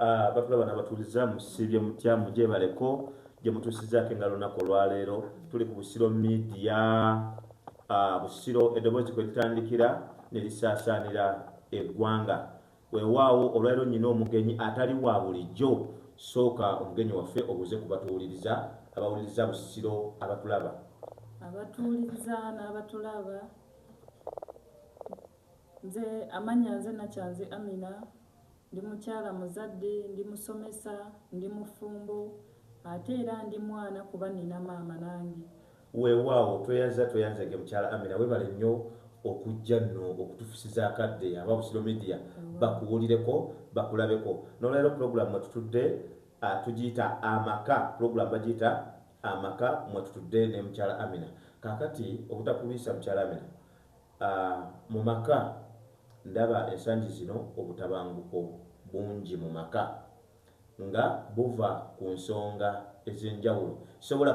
Ah, batula bana batuliza musibye mutya mujebaleko gyemutusizako engalo naku olwaleero tuli ku busiro media ah, busiro eddoboozi kwe litandikira ne lisaasaanira eggwanga weewaawo olwaleero nyina omugenyi atali wa bulijjo sooka omugenyi waffe obuze ku batuwuliriza abawuliriza busiro abatulaba abatuwuliriza n'abatulaba nze amanya nze nakyanze amina Ndi mukyala muzadde, ndi musomesa, ndi mufumbo ate era ndi mwana kuba nina maama nange. Wewawo tweyanziza tweyanzege mukyala Amina webale nyo okujja no okutufusiza akadde aba Busiro media bakuwulireko bakulabeko nolwalero program mwetutudde tujiyita amaka program bajiyita amaka mwetutudde ne mukyala Amina kakati obutakulwisa mukyala Amina Mu maka, Ndaba ensangi zino obutabanguko bungi mu maka nga buva ku nsonga ez'enjawulo. Sisobola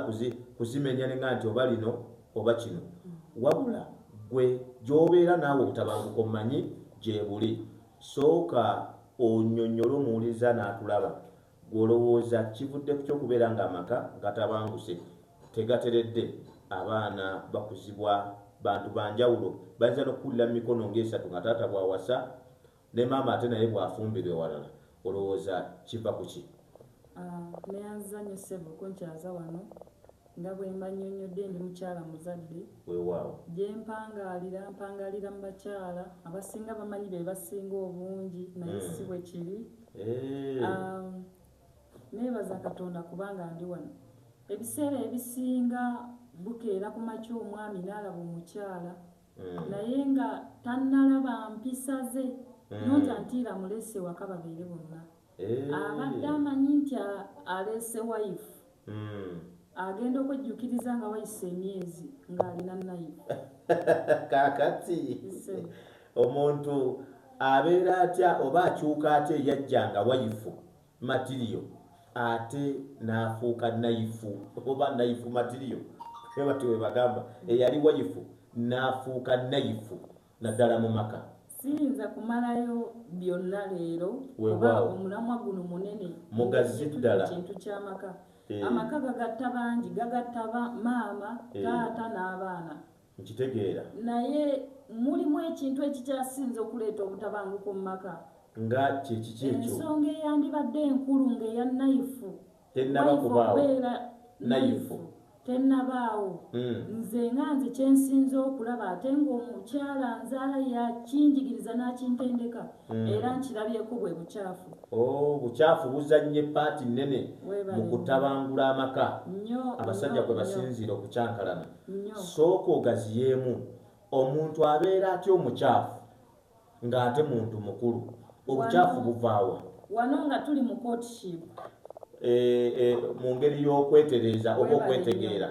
kuzimenya ne nga nti oba lino oba kino. Wabula ggwe gy'obeera naawe obutabanguko mmanyi gyebuli. Sooka onyonyole omuwuliriza n'akulaba Ggwe olowooza kivudde ku ky'okubeera ng'amaka gatabanguse, tegateredde, abaana bakuzibwa bantu ba njawulo, bayinza n'okukulira mu mikono ng'esatu nga taata bw'awasa ne maama ate naye bw'afumbirwa ewalala, olowooza kiva ku ki? Neyanza nnyo ssebo kunkyaza wano. Nga bwe mbannyonnyodde ndi mukyala muzadde. Weewaawo. Gye mpangaalira, mpangaalira mu bakyala. Abasinga bamanyi be basinga obungi naye hmm. si bwe kiri. Eh. Um, neebaza Katonda kubanga ndi wano. Ebiseera ebisinga bukeera ku makya omwami n'alaba omukyala hmm. naye nga tannalaba mpisa ze hmm. nonta ntiira mulese waka babeere bonna. Abadde amanyi nti aleese wayifu agenda okwejjukiriza nga wayise emyezi ng'alina nayifu. Kaakati omuntu abeera atya oba akyuka atya eyajja nga wayifu matiriyo ate n'afuuka nayifu oba nayifu matiriyo? Bwe batyo bwe bagamba, eyali wayifu n'afuuka nayifu. naddala mu maka. Siyinza kumalayo byonna leero kuba omulamwa guno munene mugazi ddala kintu ky'amaka. Eh. Amaka gagatta bangi, gagatta maama, eh. taata n'abaana. Nkitegeera. Naye mulimu ekintu ekikyasinze okuleeta obutabanguko mu maka. Nga kye kiki ekyo? Ensonga eyandibadde enkulu ng'eya nayifu. tennaba kubaawo nayifu tennabaawo hmm. nze nga nze kyensinza okulaba ate ngaomukyala nzaala yakinjigiriza n'akintendeka hmm. era nkirabyeko bwe bukyafu oh, bukyafu buzannye paati nnene mu kutabangula amaka abasajja kwe basinziira okukyankalana sooka ogaziyeemu omuntu abeera atya omukyafu Nga ate muntu mukulu. Obukyafu buvaawa? Wano nga tuli mu courtship. E, e, mu ngeri y'okwetereeza oba okwetegeera.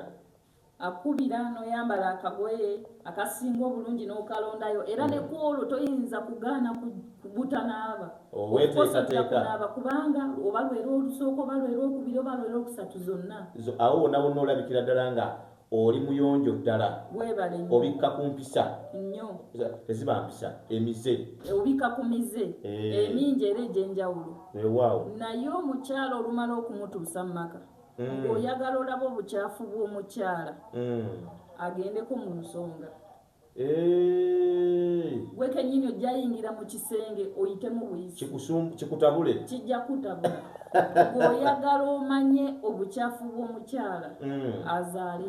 Akubira n'oyambala akagoye akasinga obulungi n'okalondayo era ne mm. kwolwo toyinza kugaana kugutanaaba oweteekateekaaba kubanga oba lwera olusooka oba lwera okubiri oba lwera okusatu zonna awo wona wonna olabikira ddala nga Oli muyonjo ddala. Webale nnyo. Obikka ku mpisa. Nnyo. Teziba mpisa, emize. E, obikka ku mize. Eh. Emingi era egy'enjawulo. Wewaawo. Eh, Naye omukyala olumala okumutuusa mu maka, mm. ng'oyagala olaba obucaafu bw'omukyala, mm. agendeko mu nsonga. gwe kenyini ojja yingira mu kisenge oyitemu buyisi kikutabule kijja kutabula gweoyagala omanye obukyafu bw'omukyala mm. azaale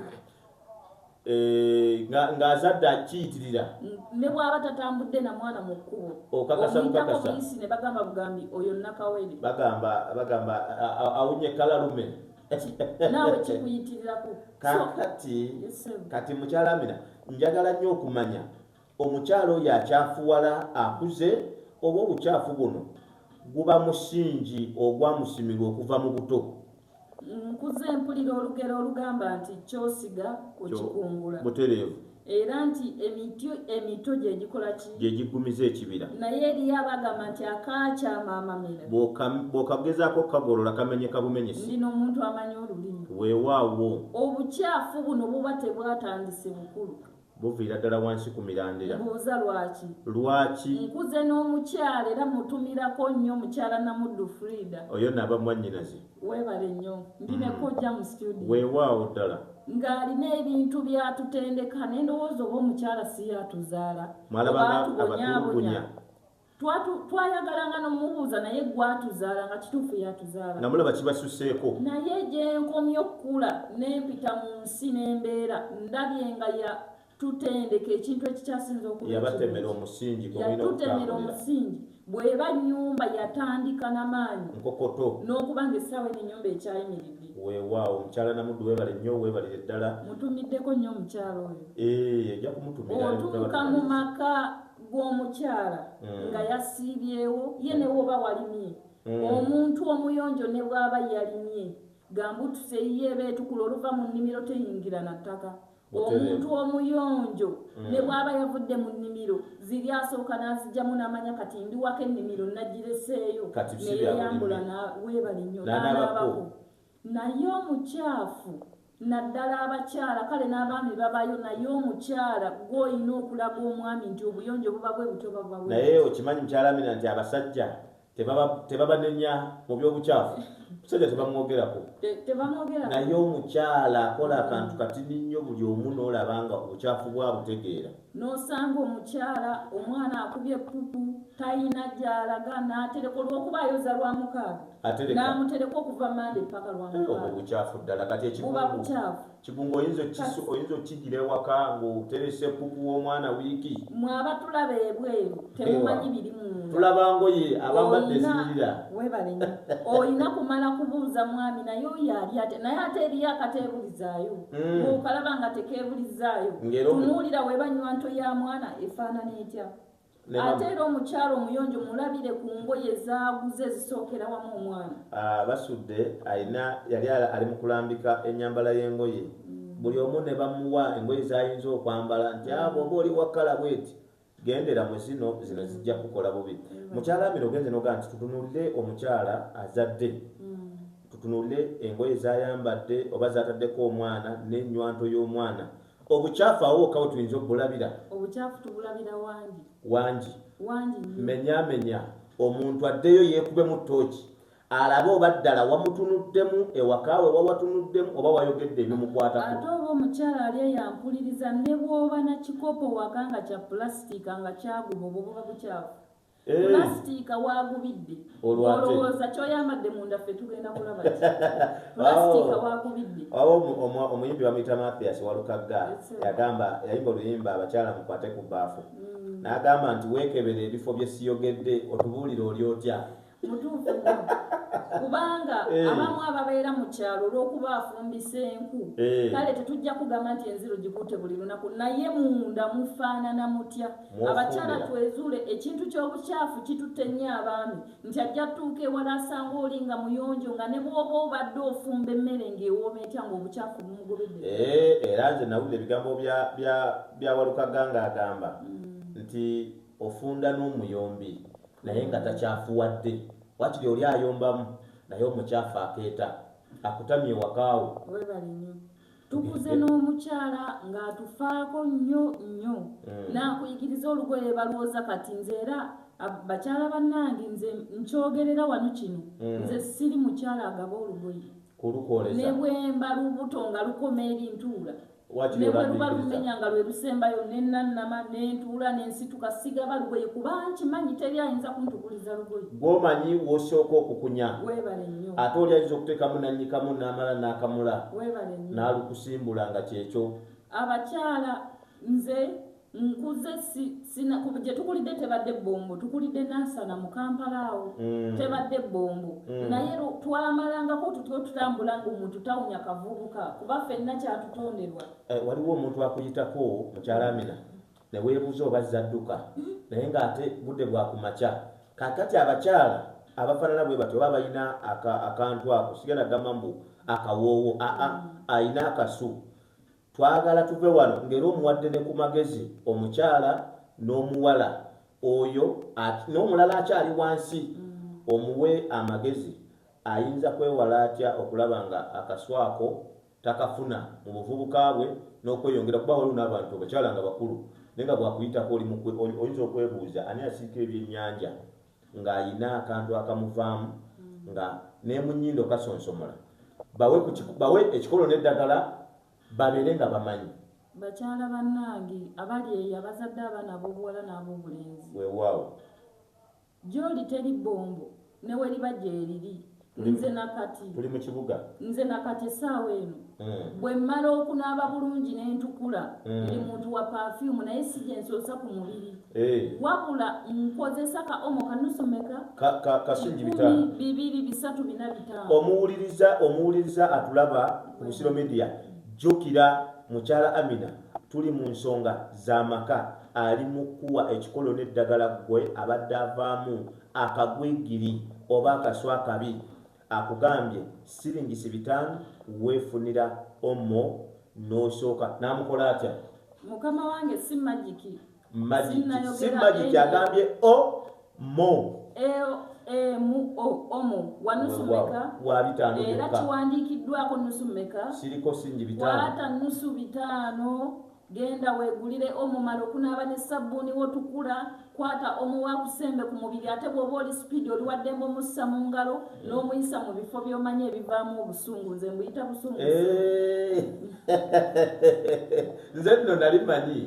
eh, ng'azadde akiyitirira ne bw'aba tatambudde na mwana mu kkubo okakasakakasa buyisi ne bagamba bugambi oyo nakawere bagamba bagamba awunye kalalume naawe kikuyitirirako kakati kati mukyala amina njagala nnyo okumanya omukyala oyo akyafuwala akuze oba obukyafu buno guba musingi ogwamusimirwa okuva mu buto nkuze mpulira olugero olugamba nti kyosiga okikungula butereevu era nti emiti emito gye gikola ki gye giggumiza ekibira naye eriyo abagamba nti akaakyamaamamira bw'okagezaako okukagolola kamenyeka bumenyesi ndina omuntu amanyi olulimi weewaawo obukyafu buno buba tebwatandise bukulu buviira ddala wansi ku mirandira buuza lwaki lwaki nkuze n'omukyala era mutumirako nnyo mukyala namuddu frida oyo naaba mwannyinaze webale nnyo ndi ne kojja mu studio weewaawo ddala ng'alina ebintu byatutendeka nendowooza oba omukyala si yatuzaala mwalabaatubonyabonya twayagalanga nomubuuza naye gwatuzaala nga kituufu yatuzaala namulaba kibasuseeko naye gyenkomye okukula nempita mu nsi nembeera ndabye nga tutendeka ekintu ekikyasinza okuyabatemera omusingi yatutemera omusingi bweba nyumba yatandika namaanyi nkokoto nokuba nga essaawa eno enyumba ekyayimiridde wewaawo omukyala namuddu webale nnyo webalire ddala mutumiddeko nnyo omukyala oyo eh, ojja kumutumira otuuka mu maka gwomukyala hmm. nga yasiibyewo ye newoba walimye hmm. omuntu omuyonjo ne bwaba yalimye gamba otuseyiyo ebeetukula oluva mu nnimiro teyingira na ttaka omuntu omuyonjo mm. ne bwaba yavudde mu nnimiro ziri asooka n'azijjamu n'amanya kati ndiwako ennimiro nagireseeyo neyeyambula weebale nnyo nanaabako naye omukyafu naddala abakyala kale n'abaami babayo naye omukyala gwoyina okulaga omwami nti obuyonjo buba bwe butoba buba naye okimanyi mukyala mina nti abasajja tebabanenya mu byobukyafu musajja tebamwogerako naye omukyala akola akantu katini nnyo buli omu noolaba nga obukyafu bwabutegeera nosanga omukyala omwana akubye pupu tayina gyalaga natereka olwokuba ayoza lwa mukaaga namutereka okuva mande paka lwamukaaga obukyafu ddala kati ekibubukyafu kigunga oyinza okisu oyinza okigira ewaka ng'oteresa ekuku w'omwana wiiki mwe abatulaba ebweru temumanyi biri munda tulaba ngoye abambadde eziyirira webale nyo olina kumala kubuuza mwami naye oyo ali ate naye ate eriyo akateebulizaayo mm. okalaba nga tekeebulizaayo tunuulira webanywa nto ya mwana efaanana etya ate era omukyalo omuyonjo mulabire ku ngoye zaaguze ezisookera wamu omwana ah, basudde alina yali ali mu kulambika ennyambala y'engoye mm. buli omu ne bamuwa engoye z'ayinza okwambala nti abo ah, oba oli wakala bweti gendera mu zino zino zijja kukola bubi mm. mukyala amina ogenze noga nti tutunulire omukyala azadde mm. tutunulire engoye zayambadde oba zataddeko omwana n'ennywanto y'omwana Obucaafu awo wokka we tuyinza okubulabira. Obucaafu tubulabira wangi. Wangi. Wangi nnyo. Menyamenya omuntu addeyo yeekubemu ttooki alabe oba ddala wamutunuddemu ewakaawe oba watunuddemu oba wayogedde ebimukwatako ate oba omukyala ali eyampuliriza ne bwoba na kikopo waka nga kya pulasitiika nga kyaguma obwo buba bukyafu pulasitiika waagubidde olowooza kyoyambadde munda ffe tugenda kulaba pulasitiika waagubidde awo omuyimbi bamuyita mathias walukagga yagamba yayimba oluyimba abakyala mukwate ku baafu mm. n'agamba nti weekebera ebifo bye siyogedde otubuulire oli otya mutuufu kubanga eh. abamu ababeera mu kyalo olw'okuba afumbisa enku eh. kale tetujja kugamba nti enziru gikutte buli lunaku naye munda mufaanana mutya abakyala twezuule ekintu ky'obukyafu kitutte nnyo abaami nti ajja tuuka ewala asanga oli nga muyonjo nga ne bwoba obadde ofumba emmere ng'ewooma etya ng'obukyafu bumugobedde eh, era nze nawulira ebigambo bya walukaga ng'agamba mm. nti ofunda n'omuyombi naye nga takyafuwadde wakiri oli ayombamu naye omukyafu akeeta akutamye wakaawo tukuze n'omukyala ng'atufaako nnyo nnyo mm. n'akuyigiriza olugoye balwooza kati nze era bakyala bannange nze nkyogerera wano kino mm. nze siri mukyala agaba olugoye ne bwemba lubuto nga lukoma ebintuula ne bwe luba lumenya nga lwe lusembayo nenannama nentuula nensituka sigaba lugoye kuba nkimanyi teri ayinza kuntukuliza lugoye gwomanyi wosooka okukunya ate oli ayinza okuteekamu nannyikamu n'amala n'akamula n'alukusimbula nga kyekyo abakyala nze nkuze gye tukulidde tebadde bombo tukulidde nansana mu kampala awo mm. tebadde bombo mm. naye twamalangako tutyo tutambula nga omuntu tawunya kavubuka kuba fenna kyatutonderwa eh, waliwo omuntu akuyitako mukyala amina Ne weebuuza oba azze adduka naye ng'ate budde bwa ku makya. Kaakati abakyala abafaanana bwe batyo oba abalina akantu ako, sigenda gamba mbu akawoowo, aa, alina akasu. Twagala tuve wano ng'era omuwadde ne ku magezi omukyala n'omuwala oyo n'omulala akyali wansi omuwe amagezi ayinza kwewala atya okulaba nga akasu ako. takafuna mu buvubuka bwe n'okweyongera kuba waliwo n'abantu abakyala nga bakulu naye nga bwakuyitako oli mukwe oyinza okwebuuza ani asiika ebyennyanja ng'alina akantu akamuvaamu mm. nga nemunyindo kasonsomola bawe bawe ekikolo n'eddagala babeere nga bamanyi bakyala bannange abali eyo abazadde abaana ab'obuwala n'ab'obulenzi weewaawo Gyoli teri bombo neweriba gyeriri nze nakati tuli mu kibuga nze nakati esaawa eno mm. bwe mmala okunaaba bulungi nentukula mm. ndi muntu wa perfume naye si gyensoosa ku mubiri hey. Eh. wabula nkozesa ka omo kanusomeka ka, ka, kasingi bitano bibiri bisatu bina bitano omuwuliriza omuwuliriza atulaba ku busiro media jjukira mukyala amina tuli mu nsonga za maka ali mu kkuwa ekikolo n'eddagala ggwe abadde avaamu akagwigiri oba akasu akabi akugambye siringisi bitaano weefunira omo n'osooka n'amukola atya mukama wange si magiki si magiki agambye o mo e, e, mu o omo wanusu meka wabitaano era kiwandiikiddwako nusu meka siriko singi bitaano wata nusu bitaano Genda weegulire omumale okunaaba ne ssabbuuni wo tukula, kwata omo wa kusembe ku mubiri ate bw'oba oli sipiidi oli waddembe omussa mu ngalo n'omuyisa mu bifo by'omanyi ebivaamu obusungu nze mbuyita busungu eh. nze nno nali manyi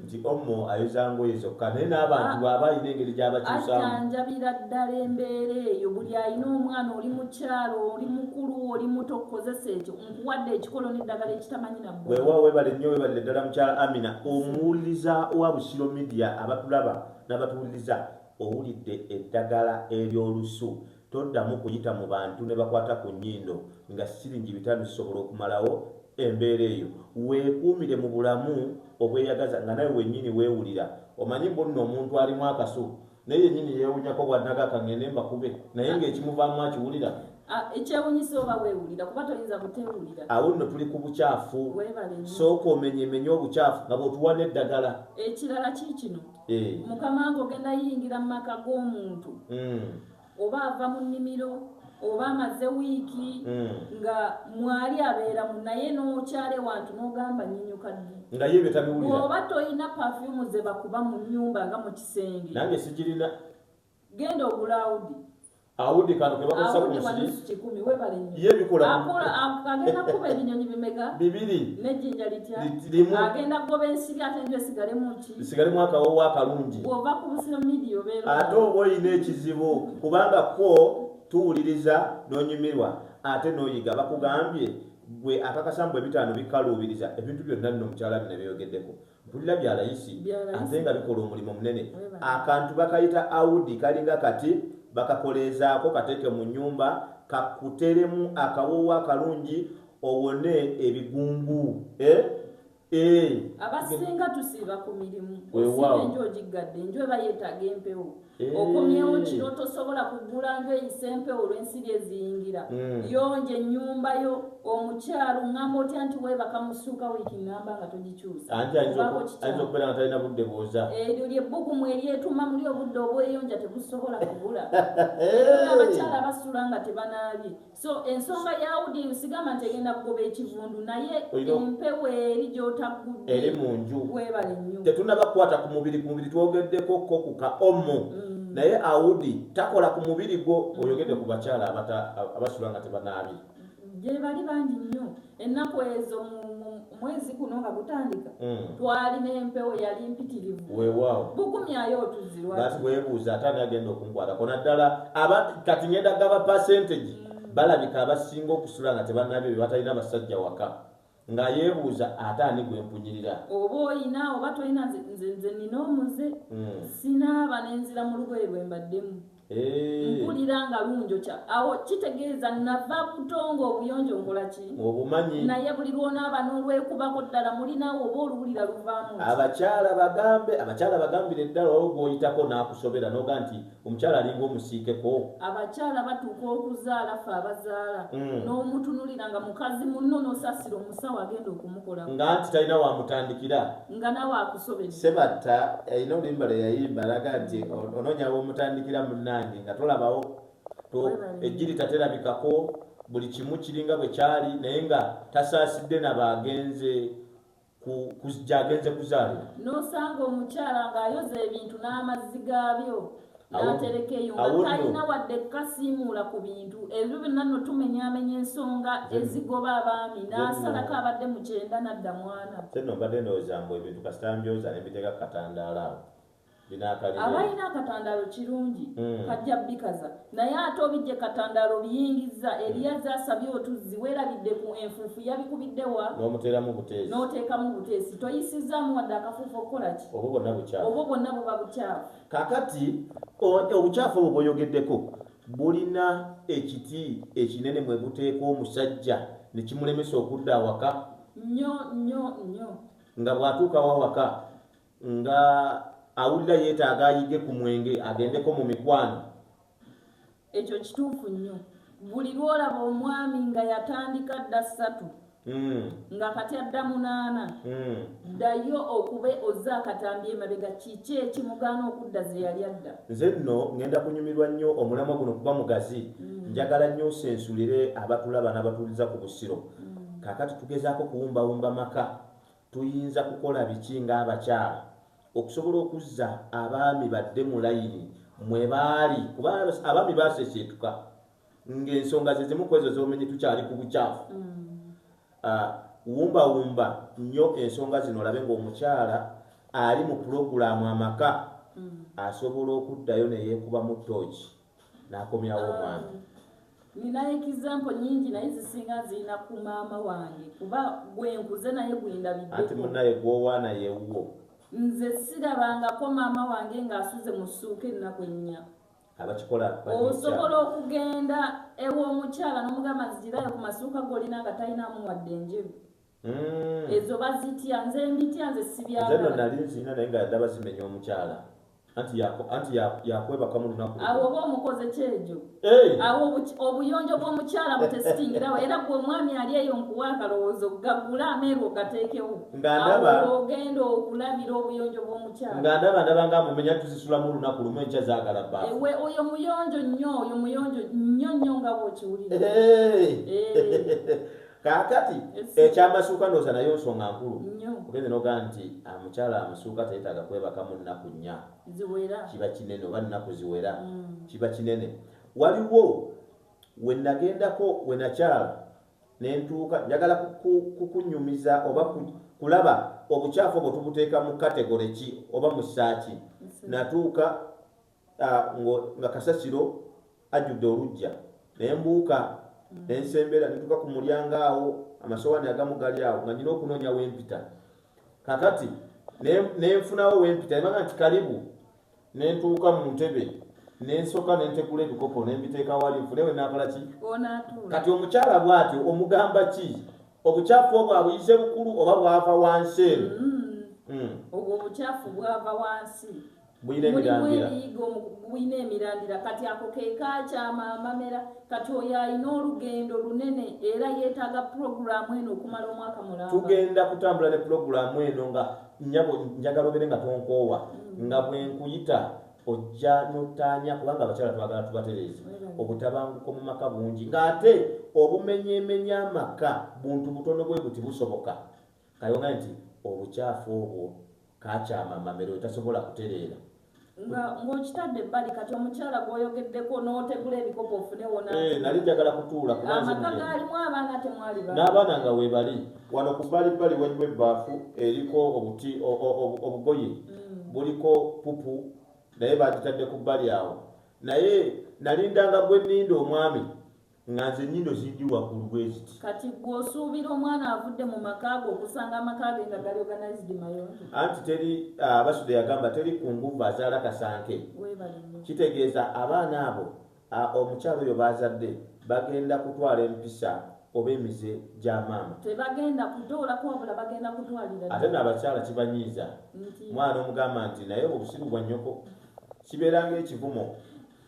nti omo ayoza ngoye zokka naye n'abantu ah. bwaba alina engeri gyabakyusamuajanjabira ddala embeera eyo buli alina omwana oli mukyalo oli mukulu oli muto okukozesa ekyo nkuwadde ekikolo n'eddagala ekitamanyi na weewaawo webale nnyo webalire ddala mukyala amina omuwuliriza wa busiro midia abatulaba n'abatuwuliriza owulidde eddagala ery'olusu toddamu kuyita mu bantu ne bakwata ku nnyindo nga siringi bitano zisobola okumalawo embeera eyo weekuumire mu bulamu obweyagaza nga nawe wennyini weewulira omanyi mbonno omuntu alimu akasu naye yenyini yewunyako bwanaga kangende mbakube naye ngaekimuvaamu akiwulira ah, ekyewunyisa oba wewulira kuba toyinza butewulira awo nno tuli ku bukyafu sooka omenye emenye obukyafu nga bwotuwa n'eddagala ekirala kiikino eh. mukama nga ogenda yiyingira mu maka g'omuntu hmm. oba ava mu nnimiro oba amaze wiiki hmm. nga mwali abeeramu naye n'okyale wantu n'ogamba nyinyuka ddi nga ye bye tabiwulira oba tolina pafyumu ze bakuba mu nnyumba nga mu kisenge nange sikirina genda ogula awudi awudi kano kebakozesa kunsirikikumi webale nyo ye bikola agenda kuba ebinyonyi bimeka bibiri nejjinja litya agenda kugoba ensiri ate njo esigalemu ki nsigale mwaka wowo akalungi ate oba olina ekizibu kubanga ko tuwuliriza nonyumirwa ate noyiga bakugambye gwe akakasambu ebitaano bikaluubiriza ebintu byonna nno mukyala bino byeyogedeko mpulira bya layisi ate nga bikola omulimu munene akantu bakayita audi kalinga kati bakakoleezaako kateeke mu nyumba kakuteremu akawoowo akalungi owone ebigungu eh? Eh. abasinga tusiiba ku mirimu osiba enju ogiggadde enju eba yeetaaga empewo eh. okomyewo kiro tosobola kugula nju eyisa empewo olw'ensiri eziyingira hmm. yonja ennyumba yo omukyalo ŋŋamba otya nti weebaka mu ssuuka wiiki ŋŋamba nga togikyusaokubeeratalina budde bwoza eryo lye bbugumu eryetuma muli obudde obweyonja tebusobola kubula abakyala basula nga tebanaabye So ensonga ya audience sigamba nti egenda kugoba ekivundu naye empewo eri gy'otaggudde eri mu nju webale nnyo tetunaba kukwata ku mubiri ku mubiri twogeddeko ko ku ka omo mm. naye audi takola ku mubiri gwo oyogedde ku bakyala abasula nga tebanaabye gyebali bangi nnyo ennaku ezo mwezi guno nga gutandika hmm. twalina empewo yali mpitirivu wewaawo bukumyayo otuzirwa bati webuuza ate ani agenda okunkwatako naddala aba kati ngenda gaba percentage hmm. balabika abasinga okusula nga tebanabyo bebatalina basajja waka nga yebuuza ate ani gwempunyirira oba oyina oba tolina nze nina omuze hmm. sinaaba nenzira mu lugoye lwembaddemu Eh. mpulira nga lunjokya awo kitegeeza nava butongo obuyonjo nkolaki obumanyi naye buli lwonaaba n'olwekubako ddala mulinaawo oba oluwulira luvaamu abakyala bagambe abakyala bagambire ddala owo gwoyitako n'akusobera noga nti omukyala alinga omusiikeko abakyala batuuka okuzaala fe abazaala mm. n'omutunulira nga mukazi munno n'osasira omusawo agenda okumukola nga nti talina wamutandikira nga nawe akusobedde sebatta yalina eh, oluyimba lwe yayimba alaga nti onoonya womutandikira munnange nga tolabawo ejjiri taterabikako buli kimu kiringa bwe kyali naye nga tasaasidde nabaagenze gyagenze kuzaalira nosanga omukyala ng'ayoza ebintu n'amazzi gaabyo n'aterekeyo nga talina wadde kukasiimuula ku bintu ebyo byonna no tumenyaamenya ensonga ezigoba abaami n'asalako abadde mu kyenda nadda mwana no mbadde ndowooza mbu ebintu kasita mbyoza ne mbiteeka ku katandaala awo abalina akatandaalo kirungi hmm. kajja bikaza naye ate obijje katandaalo biyingiza eriyazi hmm. asabye otuzzi werabidde ku enfuufu yabikubidde wa n'oteekamu buteesi toyisizaamu wadde akafuufu okukola ki obwo bwonna buba bukyafu Kakati obucaafu obwo bwoyogeddeko bulina ekiti ekinene mwe buteeka omusajja ne kimulemesa okudda awaka nnyo nnyo nnyo nga bw'atuukawo awaka nga awulira yeetaaga ayige ku mwenge agendeko mu mikwano Ekyo kituufu nnyo. Buli lw'olaba omwami nga yatandika dda ssatu hmm. nga kati adda munaana, hmm. ddayo okube ozze akatambi emabega kiki ekimugaana okudda ze yali adda. Nze nno ngenda kunyumirwa nnyo omulamwa guno kuba mugazi. Hmm. Njagala nnyo nsensulire abatulaba n'abatuuliza ku Busiro. Kaakati tugezaako kuwumbawumba maka Tuyinza kukola biki ng'abakyala okusobola okuzza abaami badde mu layini mwe baali? Kuba abaami baseseetuka ng'ensonga ze zimu ku ezo z'omenye tukyali ku bucaafu. Wumbawumba nnyo ensonga zino olabe ng'omukyala ali mu pulogulaamu amaka asobola okuddayo ne yeekubamu ttooki. nakomyawo omwana um, nina example nyingi naye zisinga zirina ku maama wange kuba gwenkuze naye gwendabiddeanti munaye gwowaana yewuwo nze sirabangako maama wange ng'asuze mu ssuuka ennaku ennya abakikola osobola okugenda ew'omukyala n'omugamba nzigirayo ku masuuka golina nga talinamu wadde enjeru Mm. ezo bazitya nze mbitya nze sibyagala nali nzina naye nga ndaba zimenya omukyala anti yakwebaka mu lunaku awo oba omukoze kyejo awo obuyonjo bw'omukyala butesitingirawo era gwe omwami ali eyo nkuwa akalowoozo gagula ameeru ogateekewo ogenda okulabira obuyonjo bw'omukyala nga ndaba ndaba nga mumenya tuzisulamu olunaku lumu enkya zagala ba ewe oyo muyonjo nnyo oyo muyonjo nnyo nnyo nga bwokiwulira kakati ekyamasuuka ndoosa naye nsonga nkulu ogenze noga nti ah, mukyala amusuuka teyetaaga kwebakamu nnaku nnya kiba kinene oba nnaku ziwera mm. kiba kinene waliwo wenagendako wenakyala nentuuka njagala kukunyumiza oba kulaba obukyafu obwo tubuteeka mu kategore ki oba mu saaki natuuka nga kasasiro ajjudde olujja naye mbuuka mm. nensembera netuka ku mulyango awo amasowani agamu gali awo nga nyina okunoonya wempita kakati nenfunawo wempita ebanga nti kalibu nentuuka mu ntebe nensoka nentegula ebikopo nembiteeka wali nfune we nakola ki kati omukyala bwatyo omugamba ki obukyafu obwo abuyize bukulu oba bwava wansi eno mm. mm. obwo obukyafu bwava wansi bulina emirandira bulina emirandira kati ako kekakyama amamera kati oyo alina olugendo lunene era yetaaga pulogulaamu eno okumala omwaka mulamba tugenda kutambula ne pulogulaamu eno nga nyabo njagala obere nga tonkoowa mm. nga bwenkuyita ojja notanya kubanga abakyala twagala tubatereeze mm. obutabanguko mu maka bungi ng'ate obumenyemenya amaka buntu butono bwe buti busoboka Kayonga nti obukyafu obwo kaakyama Mamera oyo tasobola kutereera. Nga ng'okitadde ebbali kati omukyala gw'oyogeddeko n'otegula ebikopo ofune w'onaatunula. Eeh nali njagala kutuula kuba nze mugenyi. Amaka gaalimu abaana temwali baana? N'abaana nga weebali. Wano ku bbalibbali waliwo ebbaafu eriko obuti obugoye buliko ppupu naye baagitadde ku bbali awo naye nalindanga gwe nninda omwami. nga nze nyindo zindi wakulu bweziti kati gwe osuubira omwana avudde mu maka ge okusanga amaka ge nga gali organized mayonjo anti teri ah, basude yagamba teri ku nguvu azaala kasanke kitegeeza abaana abo ah, omukyalo oyo baazadde bagenda kutwala empisa oba emize gya maama tebagenda kutoolako wabula bagenda kutwalira ate naabakyala kibanyiiza mwana omugamba nti naye obusiru bwa nnyoko kibeeranga ekivumo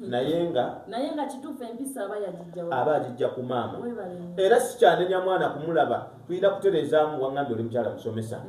naye nga naye nga kituufu empisa aba yagijja aba agijja ku maama era sikyanenya mwana kumulaba tulina kutereezaamu wangambye oli mukyala musomesa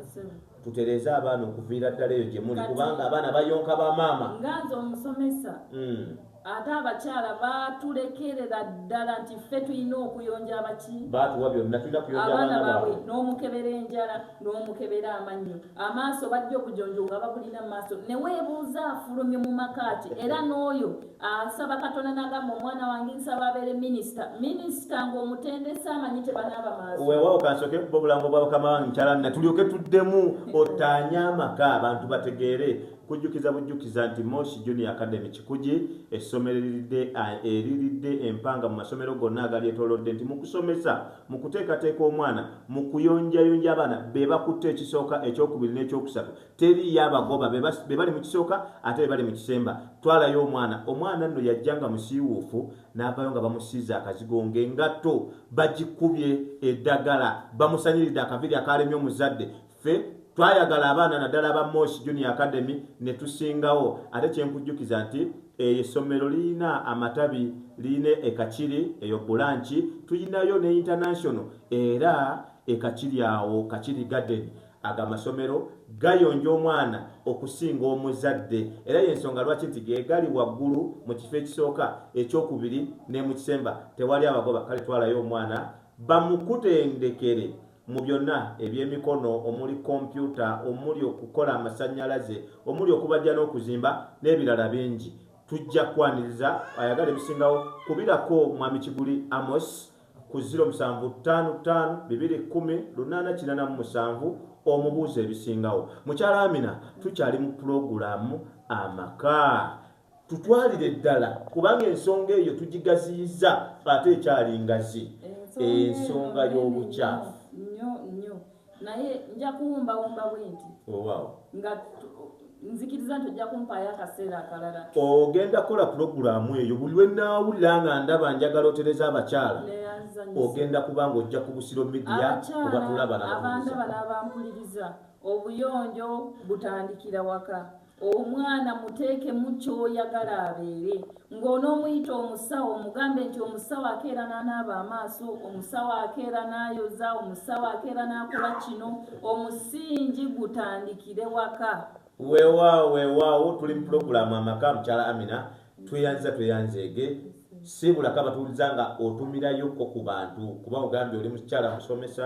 tutereeze abaana okuviira ddala eyo gye muli kubanga abaana bayonka ba maama nga nze omusomesa hmm. ate abakyala batulekerera ddala nti ffe tulina okuyonja abaki batuwa byonna tulina kuyonja abaana baabwe n'omukebera enjala n'omukebera amannyo amaaso bajja obujonjo nga babulina maaso neweebuuza afulumye mu makaaki era n'oyo asaba katonda nagamba omwana wange nsaba abeere minisita minisita ngaomutendesa amanyi tebanaaba maaso wewawo kansoke kuba obulango bwa bukama wange nkyalani natulyoke tuddemu otaanye amaka abantu bategeere kujjukiza bujjukiza nti mosi junior academy kikugi essomero eriridde eriridde empanga mu masomero gonna agali etolodde nti mu kusomesa Mu kuteekateeka omwana, mu kuyonjayonja abaana, be bakutte ekisooka, ekyokubiri n'ekyokusatu. Teriiyo abagoba, be, be bali mu kisooka ate be bali mu kisemba. Twalayo omwana. Omwana nno yajja nga musiiwuufu, n'avaayo nga bamusiize akazigo, ng'engatto bagikubye eddagala, bamusaniridde akaviiri akaalemye omuzadde. Ffe twayagala abaana naddala aba Mosh Junior Academy ne tusingawo ate kye nkujjukiza nti eyo essomero lirina amatabi lirina e Kakiri eyo Bulanki tulinayo ne International era e Kakiri awo Kakiri Garden ago amasomero gayonja omwana okusinga omuzadde era y'ensonga lwaki nti gegali waggulu mu kifo ekisooka ekyokubiri ne mu kisemba tewali abagoba kale twalayo omwana bamukutendekere Mu byonna, eby'emikono omuli kompyuta, omuli okukola amasannyalaze, omuli okubajja n'okuzimba n'ebirala bingi. Tujja kukwaniriza ayagala ebisingawo. Kubirako Mwami Kiguli Amos ku ziro musanvu ttaano ttaano bibiri kkumi lunaana kinaana mu musanvu omubuuze ebisingawo. Mukyala Amina, tukyali mu pulogulaamu Amaka. tutwalire ddala kubanga ensonga eyo tugigaziyiza ate ekyali ngazi ensonga y'obukyafu naye nja kuwumbawumba bwenti oh, nga nzikiriza nti ojja kumpaayo akaseera akalala ogenda kukola pulogulaamu eyo buli lwe naawulira nga ndaba njagala otereza abakyala ogenda kuba nga ojja ku busiro midiya obatulabanaabaana bano abampuliriza obuyonjo butandikira waka Omwana muteekemu ky'oyagala abeere. Ng'onoomuyita omusawo omugambe nti omusawo akeera n'anaaba amaaso, omusawo akeera n'ayoza, omusawo akeera n'akola kino. Omusingi gutandikire waka. Weewaawo weewaawo tuli mu pulogulaamu amaka mukyala Amina tweyanziza tweyanzeege. Siibulako abatuwuliza nga otumirayokko ku bantu kuba ogambye oli mukyala musomesa.